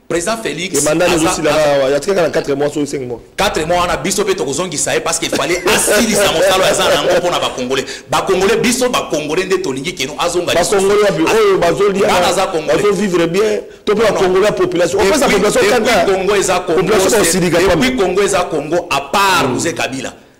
président Félix et mandat nous aussi là il y a quelqu'un dans 4 mois sur 5 mois 4 mois on a biso pe tokozongi ça parce qu'il fallait asili sa mosalo ya zana ngo pona ba congolais ba congolais biso ba congolais nde tolingi keno azonga ba congolais abi oyo bazoli ana za congolais bazo vivre bien to pe congolais population on pesa population kanda congo eza congo population osilika pa puis congo eza congo à part mm. vous kabila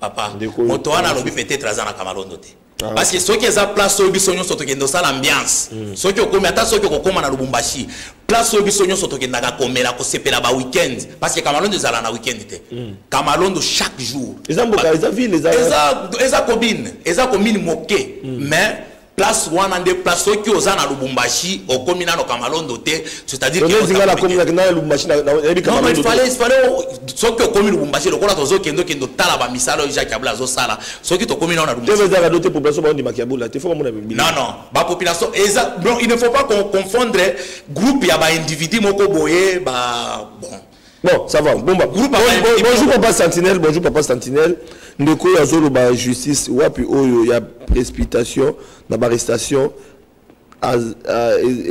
papa moto wana alobi peut-être aza na kamalondo te ah, parce que soki eza place oyo biso nyonso tokende osala ambiance hmm. soki okomi ata soki okokóma na lubumbashi place oyo biso nyonso tokendaka komela kosepela ba weekend parce que kamalondo ezala na weekend te hmm. kamalondo chaque jour eza mboka eza ville eza eza commune eza commune moke hmm. mais place wana nde place soki oza na lubumbashi okomi nano kamalondo te soki okomi lubumbashi lokola tozokende okende otala bamisala oyo jacques abula azosala soki tokomi nao na non bapopulation eza il ne faut pas confondre groupe ya baindividu moko boye ba bon Bon, ça va. Bon, bah, bon, bon, bonjour papa Sentinelle, bonjour papa Sentinelle. Ndeko ya zolo ba justice wapi oyo ya précipitation na arrestation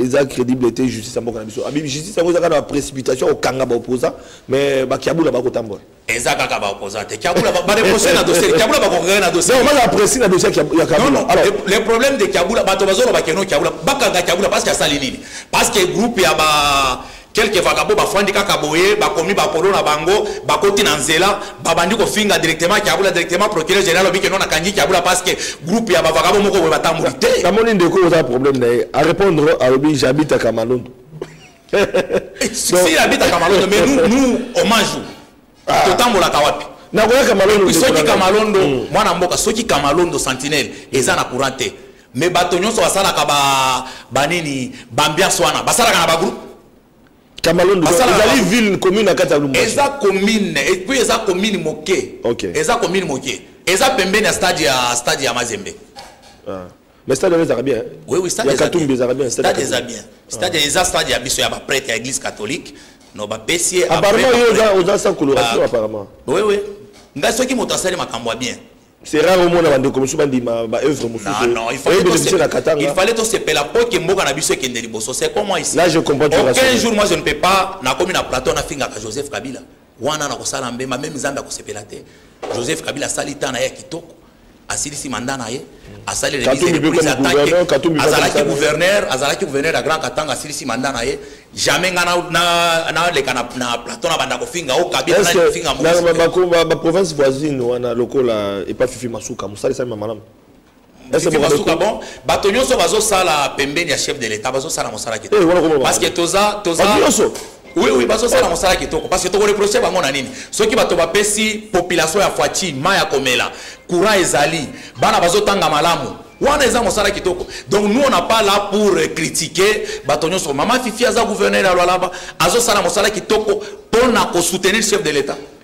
eza crédible te justice ya mboka na biso abibi justice yango eza kaka na précipitation okanga baopposant mais bakiabula bakotambola eza kaka baopposant te kiabula bareproche na dossier kiabula bakokanga na dossier baza bapresi na dossier ya kabula le problème de kiabula bato bazoloba keno kiabula bakanga kiabula parce que asali nini parce que groupe ya ba Quelques vagabonds bafandi kaka boye, bakomi ba polo na bango, bakoti na nzela, babandi kofinga directement Kiabula, directement procureur general alobi que non akangi Kiabula parce que groupe ya ba vagabonds moko boye batamboli te. Namoni ndeko oza problème na ye, a répondre alobi j'habite à Kamalondo. si habite à Kamalondo mais nous nous hommage ah. totambolaka wapi nakoya kamalondo soki kamalondo mm. mwana mboka soki kamalondo sentinelle eza na courant te mais bato nyonso basalaka banini bambiance wana basalaka na bagroupe kamalondo ezali ville commune na kati ya lumbashi eza commune epuis eza commune moke eza commune moke eza pembeni ya stade ya stade ya mazembe ah. Mais stade wana ezalaka bien. Hein? Oui oui stade ezalaka bien. Ezalaka bien stade. Stade ezalaka bien. Stade ah. eza stade ya biso ya ba prêtre ya église catholique. No ba pesier. Apparemment yo oza oza sans coloration apparemment. Oui oui. Nga soki moto asali makambo bien. C'est rare au monde avant de commencer à dire ma œuvre Non non, il fallait tout se Il fallait tout se payer la peau qui est mboka na biso qui est C'est comment ici. Là je comprends. Aucun jour moi je ne peux pas na comme na plateau na finga Joseph Kabila. wana na kosala mbemba meme nzambe akosepela te joseph kabila asali ntan na ye ya kitoko asilisi manda na ye asalelazalaki gouverneur azalaki gouverneur ya grand katanga asilisi manda na ye jamais nga naleka na plateau na banda kofinga o kabilafingabaprovince voisine wana lokola epa fifi masuka mosalisami ma malamu bon bato nyonso bazosala pembeni ya chef de l'état bazosala mosala kitooparce eh, que toza toza oui oui bazosala mosala kitoko parce que tokoreproche bango na nini soki bato bapesi population ya fati mai ya komela courant ezali bana bazotanga malamu wana eza mosala kitoko donc nous on n'a pas là pour critiquer bato nyonso mama fifi aza gouverneur ya lwalaba azosala mosala kitoko mpo na kosoutenir chef de l'état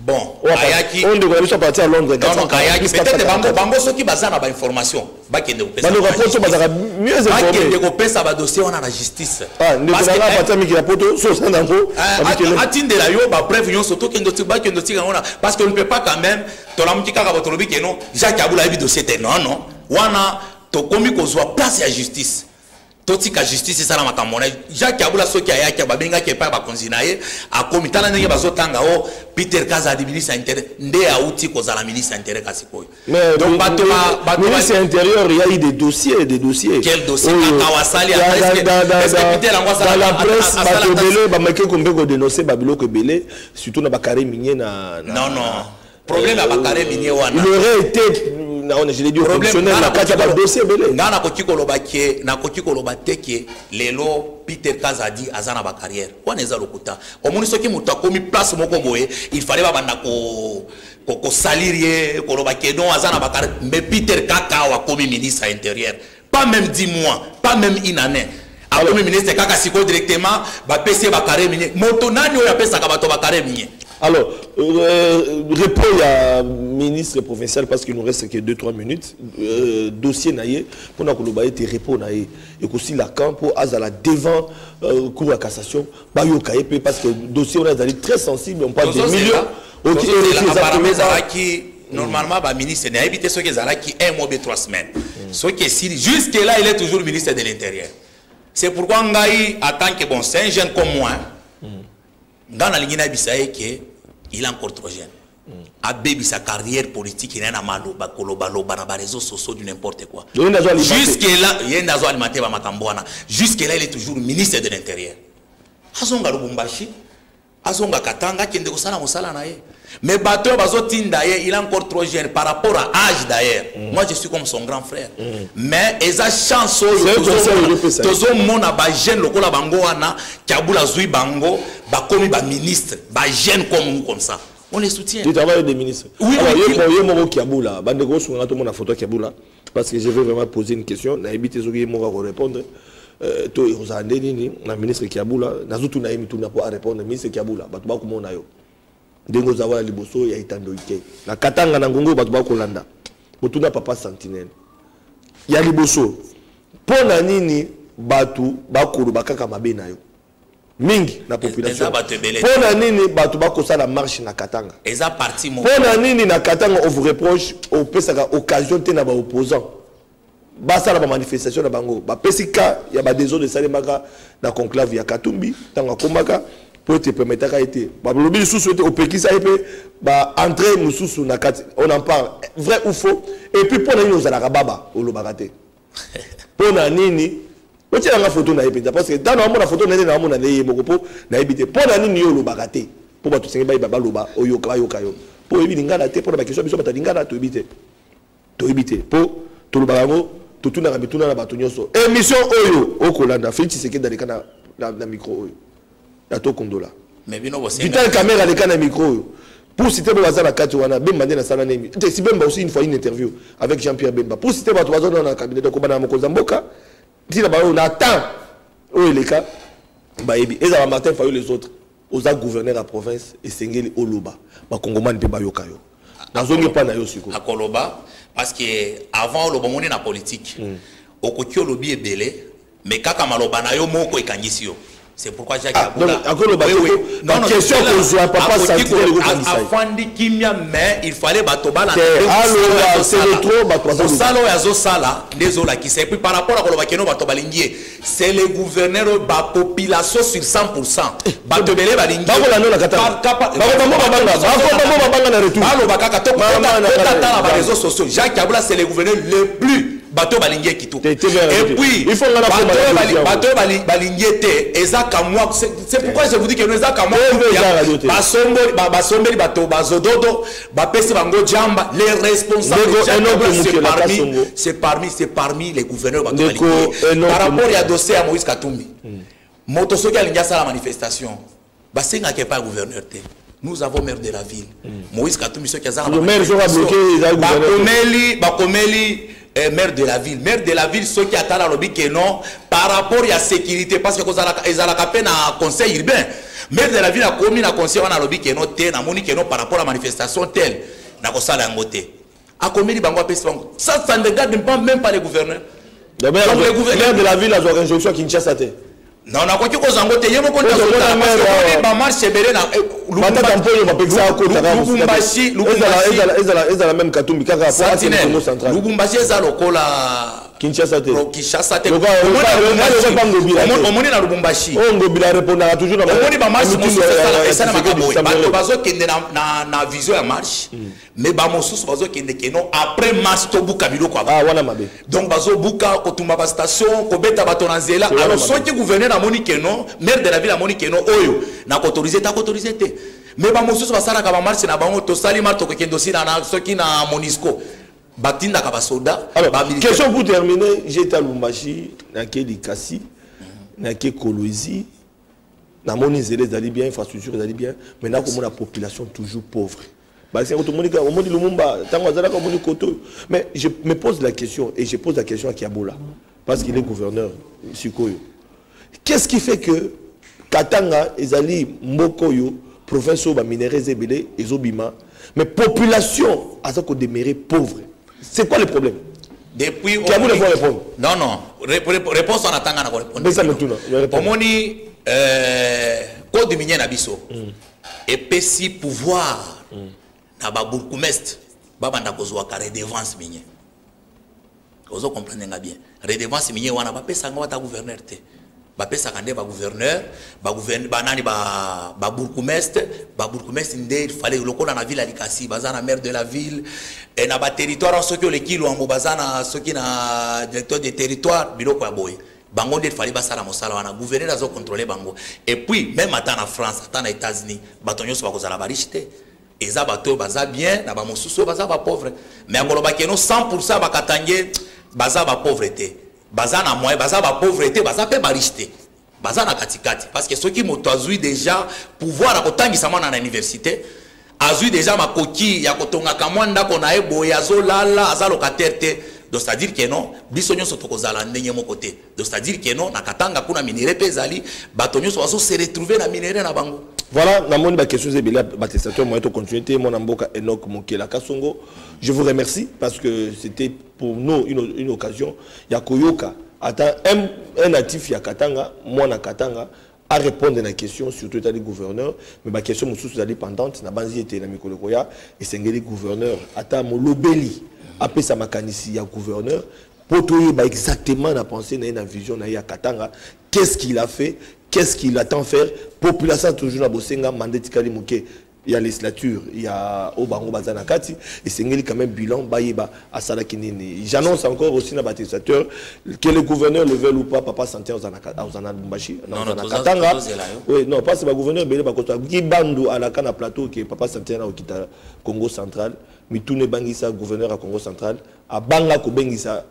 bon ayaki oyo ndeko na biso aparti ya londres donc ayaki peut-être bango bango soki baza na bainformation bakende kopesabaloka poto bazalaka mieux bakende kopesa badossier wana na justice ah, ndeko nanga aparti ya miki ya poto so oza nango eh, atindela yo bapreuve nyonso tokende bakende otika yango na parce que on ne peut pas quand même tolamuki kaka bo tolobi keno jacques abula ayebi dossier te non non wana tokomi kozwa place ya justice totika justice esala makambo na jacques abula soki ayaki babengaki epai bakonzi na ye akomi tala ndenge bazotanga o oh, peter kaza adi ministre ya intérieur nde auti kozala ministre ya intérieur kasi koyo donc bato ministre ya intérieur ya de dossier de dossier quel dossier kaka wasali peter yango asala presse bato ebele bamaki kombe kodenonce babiloko ebele surtout na bacarre minier na non non problème ya bakare minie wana il aurait été naona je l'ai dit fonctionnel na kati ya badossier ebele ngai nakoki koloba ke nakoki koloba te ke lelo peter kazadi aza na bacarrière wana eza lokuta omoni soki moto akomi place moko boye il fallait babanda ko kosalir ye koloba ke non aza na bacarrière mais peter kaka awa akomi ministre ya intérieur pas même 10 mois pas même une année akomi ministre kaka sikoyo directement bapesi ye bakare minie moto nani oyo apesaka bato bakare minie Alors, euh, repos à ministre provincial parce qu'il nous reste que 2-3 minutes. Euh, dossier naïe, pour nous été repos naïe. Et aussi Lacan pour Azala devant euh, cour à cassation bayoka ye mpe parce que dossier wana ezali très sensible on parle de millions okiappartement ezalaki normalement baministre nayebi te soki ezalaki un mois be trois semaines mm. soki esili jusque là il est toujours ministre de l'intérieur c'est pourquoi ngai en tant que bon c'est un jeune comme moi mm. ngai nalingi nayebisa ye ke il est encore trop jeune abebisa carrière politique na ye na maloba kolobaloba na bareseau sociaux du n'importe quoi jusque là ye nde azo alimenter bamakambo wana jusque là il est toujours ministre de l'intérieur azonga lubumbashi azonga katanga akende kosala mosala na ye mais bato oyo bazotinda ye il a encore trop jeune par rapport à âge d'ailleurs mm. moi je suis comme son grand frère mm. mais eza chance oyo tozomona bajeune lokola bango wana kabula azwi bango bakomi baministre ba jeune comme vous comme ça on les soutient tu travailles des ministres oui alors yo bon yo moko kiabula bande ko sunga to mona photo kiabula parce que je veux vraiment poser une question na ebite soki yo moko ko répondre euh, to ekozala nde nini na ministre kiabula nazotuna ye mituna mpo arépondre ministre kiabula bato bakomona yo ndenge oza wana liboso ya etandoi te na katanga na ngongo bato bakolanda motuna papa sentinelle ya liboso mpo na nini bato bakoloba kaka mabe na yo mingi na population mpo na nini bato bakosala marche na katanga mpo na nini na katanga on vous reproche opesaka occasion te na baopposant basala bamanifestation na bango bapesi ka ya badesordre esalemaka na conclave ya katumbi ntango akomaka mpo ete epermetaka ye te balobi lisusu ete opekisa ye mpe baentre mosusu na kati on en parle vrai ou faux et puis mpo na nini ozalaka baba olobaka te pona nini otyela nga foto na ye mpenza parce que ntango naomona foto na ye naomona na ye moko mpo nayebi te mpo na nini yo olobaka te mpo bato senge bayeba baloba oyoka bayoka yo mpo oyebi lingala te mpo na bakestion biso bata lingala toyebi te toyebi te mpo tolobaka yango totunaka mituna na bato nyonso émission oyo okolanda félix tshisekedi aleka na, na, na micro oyo ya tokundola vital camera aleka na micro oyo pour citer bo baza na kati wana bemba nde nasala nemi te si bemba aussi une fois une interview avec jean pierre bemba pour citer bato baza na cabinet donc obana mokonzi ya mboka ntina baoyo na temps oyo eleka bayebi ezala martin fayo les autres oza gouverneur ya province esengeli oloba bakongomani mpe bayoka yo nazongi epai na yo sikoyo akoloba parce que avant oloba omoni na politique hmm. okoki olobi ebele Mais kaka maloba na yo moko ekangisi yo. C'est pourquoi Jacques ah, Abula. Donc, akolo ba oui, non, non, question que je vois papa ça dit le gouvernement. Afandi kimia mais il fallait bato bala. Alors c'est le trop ba trois ans. Salo ya zo sala ndezo la kisa et puis par rapport à koloba keno bato balingi c'est le gouverneur ba population sur 100%. Eh, bato belé balingi. Ba kola no la kata. Ba ko ba mo ba banga. Ba ko ba mo ba banga na retour. Ba lo ba kaka to. Ba na na. Ba na na. Ba réseaux sociaux. Jacques Abula c'est le gouverneur le plus bato balingi ye kitoko bato balingi ye te eza kamwa c'est pourquoi je vous dis que no eza kamwa basombeli bato bazododo bapesi bango jamba les responsablesparmises parmi c'est parmi les gouverneur bato balingi par rapport ya dossier ya moïse katumbi hmm. moto soki alingi asala manifestation basengaka epai ya gouverneur te nous avons maire de la ville mm. moïse katumbi soki azangabakomeli bakomeli eh, maire de la ville maire de la ville soki atala alobi ke non par rapport ya sécurité parce que ezalaka mpe na conseil urbain maire de la ville akomi na conseil wana alobi ke non te namoni ke non par rapport ya manifestation tele nakosala yango te akomeli bango apesi bango ça ça ne regarde même pas les gouverneurs donc le gouverneur de la ville azwaka injonction ya kinshasa te non nakoki kozwa yango te ye moko bamarche ebele na ezala meme katumbi kakaalubumbasi eza lokola kinshasa te kinshasa te omoni na lubumbashi oyo ngobila arepondaka toujours na omoni bamarche mosusu esalamaka boye bato bazokende na vision ya marche hmm. mais ba mosusu bazo kende keno après masse to buka biloko ah wana mabe donc bazo buka ko tumba ba station ko beta bato na nzela alors soki gouverneur amoni keno maire de la ville amoni keno oyo na ko autoriser ta ko autoriser te mais ba mosusu basalaka ba marche na bango to sali marto ko kendo sina na soki na Monisco batindaka ba soda ba militaire question pour terminer j'étais à Lumbashi na Kedi Kasi na ke Kolwezi na moni zele zali bien infrastructure zali bien mais na ko mona population toujours pauvre Basi yango tomoni kaka omoni Lumumba ntango azalaka omoni koto mais je me pose la question et je pose la question à Kiabola parce qu'il est gouverneur sikoyo qu'est-ce qui fait que Katanga ezali mboko yo province oyo baminerais eza ebele ezobima mais population aza kodemeure pauvre c'est quoi le problème depuis kiabu ne faut répondre non non réponse wana tanga na korépondre omoni euh, code minier na biso mm. epesi pouvoir mm. na ba bourgmestre babanda kozwaka redevance minier ozo comprendre nga bien redevance minier wana bapesa yango ata gouverneur te bapesaka nde bagouverneur banani babourgmestre babourgmestre nde fale lokola na ville ya likasi baza na maire de la ville e na baterritoire soki oleki lwango baza na soki na directeur de territoire biloko ya boye bango nde fali basala mosala wana gouverneur azo contrôler bango et puis même ata na France ata na États-Unis bato nyonso bakozala ba riche te eza bato oyo baza bien na bamosusu oyo baza bapauvre mais akoloba keno 100 pourcent bakatange baza bapauvre te baza na moyen baza bapauvre te baza mpe bariche te baza na katikati parce que soki moto azwi déjà pouvoir ya kotangisa mwana na université azwi deja makoki ya kotongaka mwa ndako na ye boye azolala aza locataire te donc c'est-à-dire que non biso nyonso tokozala ndenge moko te donc c'est-à-dire que non na katanga kuna minere mpe ezali bato nyonso bazo se retrouver na minere na bango Voilà, namoni ba questions et bela batestateur moyen to continuer te mon amboka Enoch Mokela Kasongo. Je vous remercie parce que c'était pour nous une, une occasion ya koyoka ata un, un natif ya Katanga, moi na Katanga a répondre na question surtout etali gouverneur mais ba question mosusu ezali pendante na banzi ete na mikolo koya esengeli gouverneur ata molobeli apesa makanisi ya gouverneur mpo toyeba exactement na pensée na ye na vision na ye ya katanga qu'est ce qu'il a fait qu'est ce qu'il attend faire population toujours na bosenga manda etikali moke ya legislature ya oyo bango baza na kati esengeli quand même bilan bayeba asalaki nini j'annonce encore aussi na batestateurs que le gouverneur le veuille ou pas papa santé aza na lumbashi aza na katanga oui non parce que bagouverneur ebele bakota kibandu alaka na plateau ke papa santé na okita congo central mituna ebangisa gouverneur ya congo central abanga kobengisa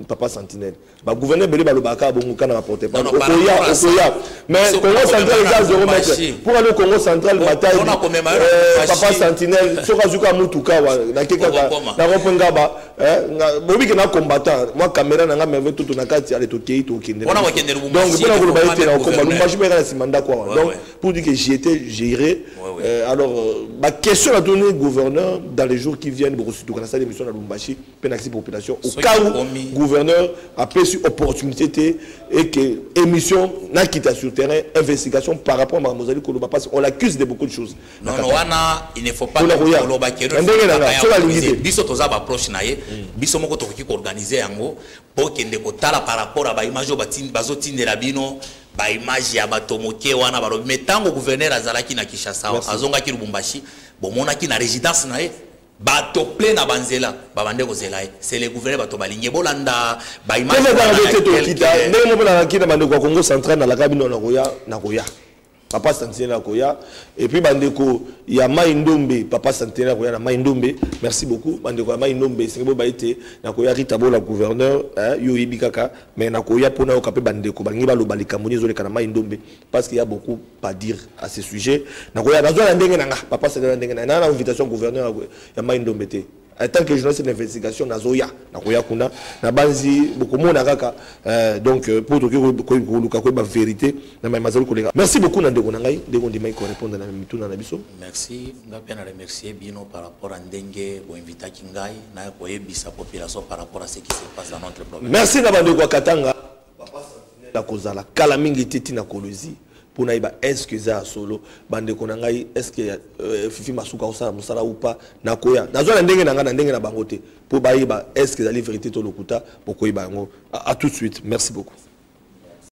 papa sentinelle bagouverneur ebele balobaka kaka bongo kana baporte pale okoya okoya mais congo central eza zero mètre mpo ane congo central matai euh, papa sentinelle soki azwi kaka motuka wa nake kaka nakope ngaba eh, bobi ke na combattant mwa caméra na nga merve toto na kati ale tokei tokende donc mpo na koloba ete nakokomba lumbashi mpe eka na nsima ndako awa donc pour dire que j'étais géré euh, alors euh, baquestion natoni gouverneur dans les jours qui viennent bokosituka na sala émission na lumbashi mpe nakisi population au cas où gouverneur apesi opportunité te et que émission nakita sur terrain investigation par rapport à makambo ozali koloba parce on l'accuse de beaucoup de choses wana il ne faut pas koloba ndenge nanga soki alingi te biso toza baproche na ye mm. biso moko tokoki koorganize yango mpo kende kotala par rapport a baimage oyo bazotindela bino baimage ya bato moke wana balobi me ntango gouverneur azalaki na kinshasa azongaki lubumbashi bomonaki na résidence na ye bato ple na banzela babande kozela ye se le gouverneur bato balingi bolanda baimazalakite tokita ndenge moko nalaki na bandeko ya congo central nalaka bino nakoya nakoya papa centenaire akoya epuis bandeko ya mai ndombe papa centenaire akoya na mai ndombe merci beaucoup bandeko ya mai ndombe esengi boba ete nakoya rita bola gouverneur yo oyebi kaka mais nakoya mpo nayoka mpe bandeko balingi baloba likambo nini ezoleka na mai ndombe parce qu'il y a beaucoup à dire à ce sujet nakoya nazwa na ndenge na nga papa sala na ndenge na na invitation gouverneur ya mai ndombe te en tant que journaliste d'investigation nazoya nakoya kuna nabanzi bokomona kaka euh, donc euh, mpo toki koluka koyeba vérité na mai mazali koleka merci beaucoup na ndeko na ngai ndeko ndimaki korépondre na mituna na biso merci nga mpe na remercie bino par rapport à ndenge boinvitaki ngai naya koyebisa population par rapport à ce qui se passe dans notre problème merci na bandeko ya katanga nakozala kala mingi te ntina kolozi mpo nayeba eske eza ya solo bandeko na ngai eske euh, fifi masuka akosala mosala ou pas nakoya nazwa na ndenge na ngai na ndenge na bango te mpo bayeba eske ezali verité to lokuta bokoyeba yango a tout de suite merci beaucoup